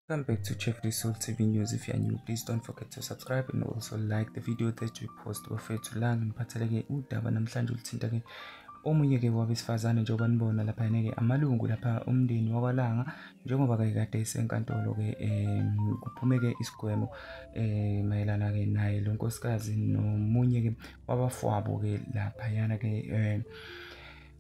Come back to Check Result TV News if you are new. Please don't forget to subscribe and also like the video that we post. Bafethu la ngiphatheleke udaba namhlanje oluthinta ke omunye ke wabesifazane njengoba nibona lapha ke amalungu lapha umndeni wakwalanga njengoba ke kade isenkantolo ke um kuphume ke isigwebo eh mayelana ke naye lo nkosikazi nomunye ke wabafwabo ke lapha yana ke um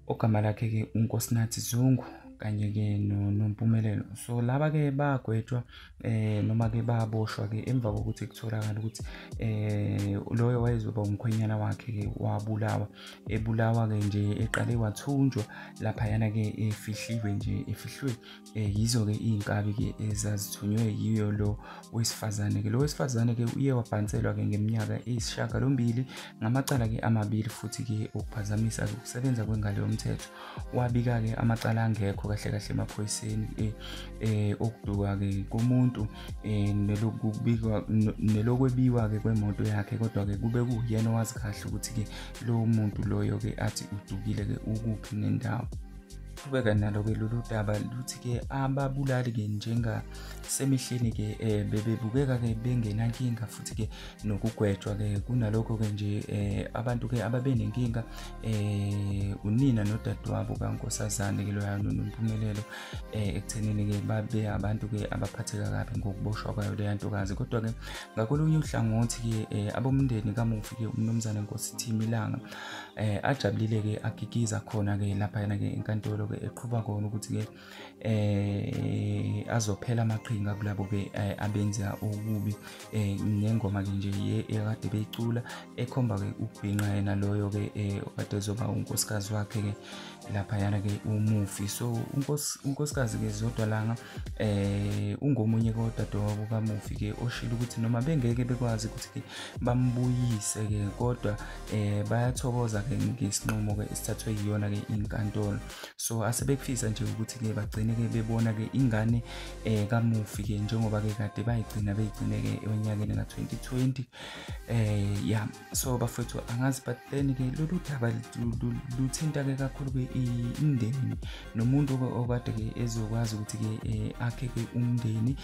ogama lakhe-ke unkosinathi zungu kanye-ke nompumelelo so laba-ke bagwetshwa eh noma-ke baboshwa-ke emva kokuthi kutholakala ukuthi eh loyo wayezoba umkhwenyana wakhe-ke wabulawa ebulawa-ke nje eqale wathunjwa laphayana-ke efihliwe nje efihlwe eh yizo-ke iy'nkabi-ke ezazithunywe yiyo lo wesifazane-ke lo wesifazane-ke uye wabhanselwa-ke ngeminyaka eyisishagalombili ngamacala-ke amabili futhi-ke okuphazamisa-ke ukusebenza kwengalo yomthetho wabika-ke amacala angekho kahle kahle emaphoyiseni um eh, okuduka-ke komuntu um nelokwebiwa-ke kwemoto yakhe kodwa-ke kube kuyena owazi kahle ukuthi-ke lowo muntu loyo-ke athi udukile-ke ukuphi nendawo qhubeka nalo-ke lolu daba luthi-ke ababulali-ke njengasemihleni-ke um eh, bebebukeka-ke bengenankinga futhi-ke nokugwetshwa-ke kunalokho-ke nje um abantu-ke ababenenkinga um unina nodadewabo kankosazane-ke loya nonompumelelo um ekuthenini-ke babe abantu-ke abaphatheka kabi ngokuboshwa kwayo leya ntokazi kodwa-ke ngakolunye uhlangothi-ke um abomndeni kamufi-ke umnumzane nkosi thimilanga eh ajabulile ke agigiza khona ke lapha yena ke enkantolo ke eqhuba kona ukuthi ke eh azophela amaqhinga kulabo ke eh, abenza okubi eh ngengoma ke nje ye ekade beyicula ekhomba ke ukubhinqa yena loyo ke eh okade ezoba unkosikazi wakhe ke laphayana ke umufi so unkosikazi ke zodwa langa eh ungomunye kodadewabo kamufi ke oshilo ukuthi noma bengeke bekwazi ukuthi ke bambuyise ke kodwa eh bayathokoza ke ngesinqumo ke esithathwe yiyona ke inkantolo so asebekufisa nje ukuthi ke bagcine ke bebona ke ingane eh kamufi ke njengoba ke kade bayigcina beyigcine ke onyakeni ka 2020 eh ya so bafowethu angazi but then ke lolu daba luthinta ke kakhulu ke imndeni nomuntu okade ke ezokwazi ukuthi ke eh, akhe ke umndeni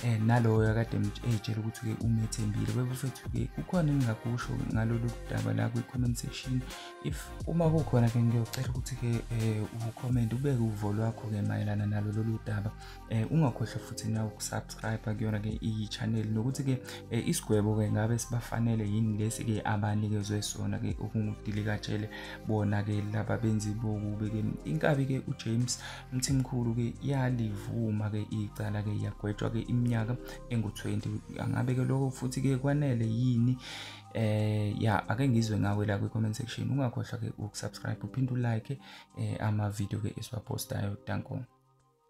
eh naloyo akade ejela ukuthi ke umethembile bebafethu ke kukhona engingakusho ngalolu daba la kwi comment section if uma kukhona ke ngiyocela ukuthi ke eh, u comment ubeke uvo lwakho ke mayelana nalo lolu daba eh ungakhohlwa futhi nawe ukusubscribe kuyona ke iyi channel nokuthi ke eh, isigwebo ke ngabe sibafanele yini lesi ke abanikezwe sona ke okungudili katshele bona ke laba benzi bokubi ke inkabi ke uJames Mthimkhulu ke yalivuma ke icala ke yagwetshwa ke iminyaka engu20 angabe ke lokho futhi ke kwanele yini eh ya ake ngizwe ngawe la kwi-comment section ungakhohlwa ke ukusubscribe uphinde ulike eh, ama-video ke esiwapostayo danko